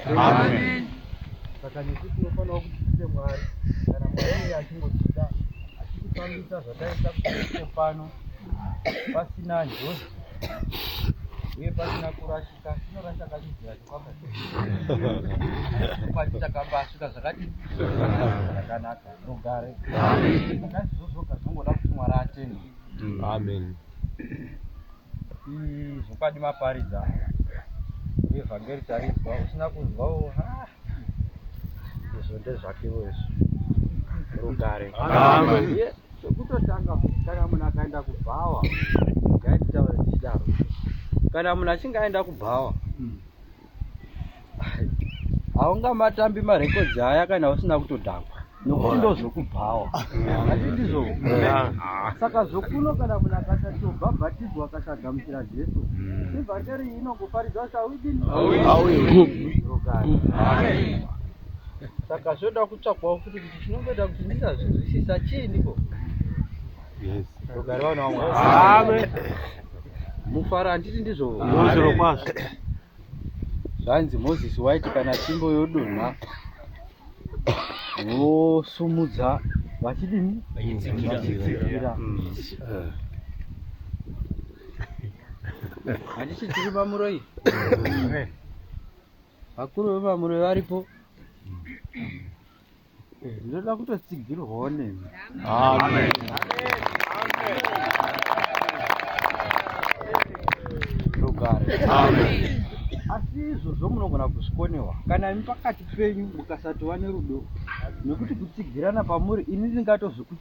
Amen. Saka nesu tinofanira kuti tiite Mwari kana Mwari achingotida achitipamisa zvataita kuite pano pasina njodzi uye pasina kurashika tinorasha kachidzira chikwaka pati takambasvika zvakati zvakanaka rugare zvakaizvozvoka zvinongoda kuti Mwari atende. Amen. zvokwadi maparidza evhangeri tarinzwa usina kunzwawo izvo ndezvakewo izvo rugare zvekutotanga kana munhu akaenda kubhawa gaitaura tichidaro kana munhu achinge aenda kubhawa hmm. haungamatambi marekodzi aya kana usina kutodhakwa nokuti ndozvokubhawa asi ndizvo saka zvokuno kana munhu akasatobva bhatizwa akasagamuchira jesu hmm. ivhangeri inongoparidza kuti auidini saka zvoda kutsvakwawo futi kuti chinomboita kuti ndisazvinzwisisa chiiniko Yes. Rugare vana vamwe. Amen. Mufaro handiti ndizvo. Ndizvo kwazvo. Zvanzi Moses waiti kana tsvimbo yodonha vosumudza vachidini? Vachitsikira. Handiti tiri pamuroi? Vakuru vepamuroi varipo. ndinoda kutotsigirwawo nemi amen rugare amen asi izvozvo munogona kuzvikonewa kana imi pakati penyu mukasatova nerudo nekuti kutsigirana pamuri ini ndingatozvikuti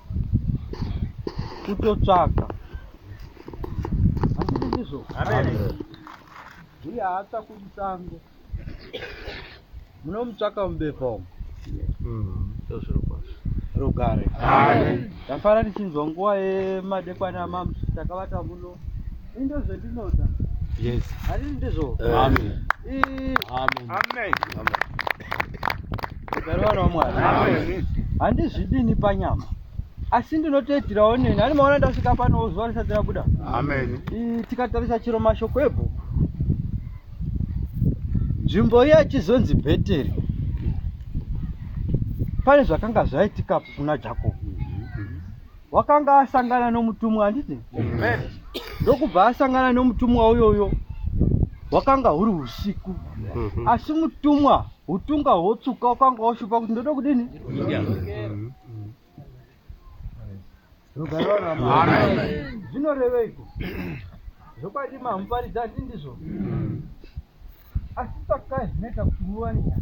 kutotsvaka asi ndizvo uye haatsvakwi musango munomutsvaka mubepa umu rugare ndafara ndichinzwa nguva yemadekwana mamu takavata muno Indo zvandinoda. Yes. Ari ndizvo. Eh. Amen. Eh. Amen. Amen. Amen. Mugare waMwari. Amen. Handizvidini panyama. asi ndinotoitirawo neni ani maona ndasvika panowo zuva risati rabuda amen tikatarisa chiro mashoko ebhuku nzvimbo iya yachizonzi bheteri pane zvakanga zvaitikapo kuna jakobo wakanga asangana nomutumwa handiti ndokubva asangana nomutumwa uyoyo wakanga huri usiku mhm. asi mutumwa utunga hwotsuka wakanga washupa kuti ndoda kudini zvinoreveiko zvokwadi mamuparidza handi ndizvo asi sakai zvinoita kuti muwane nyaya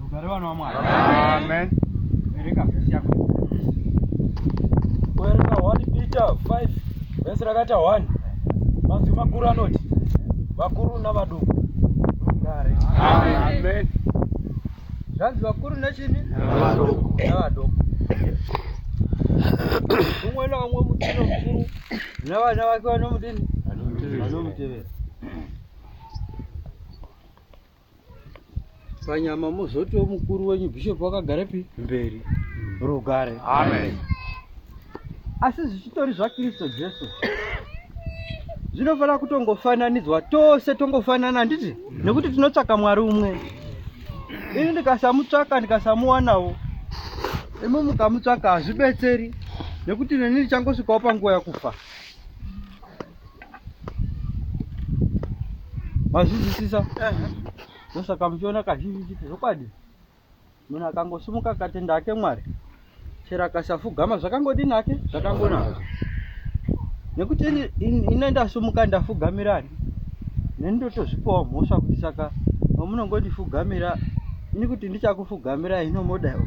Rugare vana wamwari. Amen. Vereka vhesi yako. Kuverenga 1 Peter 5 vhesi rakaita 1 mazwi makuru anoti vakuru navaduku rugare. Amen. Zvanzi vakuru nechini? Navaduku. Navaduku. Umwe naumwe mutino mukuru navana vake vanomudini? Vanomutevera. panyama mozotiwo mukuru wenyu bishop wakagara pi mberi rugare amen asi zvichitori zvakristu jesu zvinofanira kutongofananidzwa tose tongofanana handiti nekuti tinotsvaka mwari umwe ini ndikasamutsvaka ndikasamuwanawo imi mukamutsvaka hazvibetseri nekuti neni ndichangosvikawo panguva yakufa mazvizisisa ndosaka muchiona kazhinji chiti zvokwadi munhu akangosimuka akatenda ake mwari chero akasafugama zvakangodini ake zvakangonaka nekuti ine ndasumuka ndafugamirani neni ndotozvipawo mhosva kuti saka vamunongondifugamira ini kuti ndichakufugamira ino modaiwo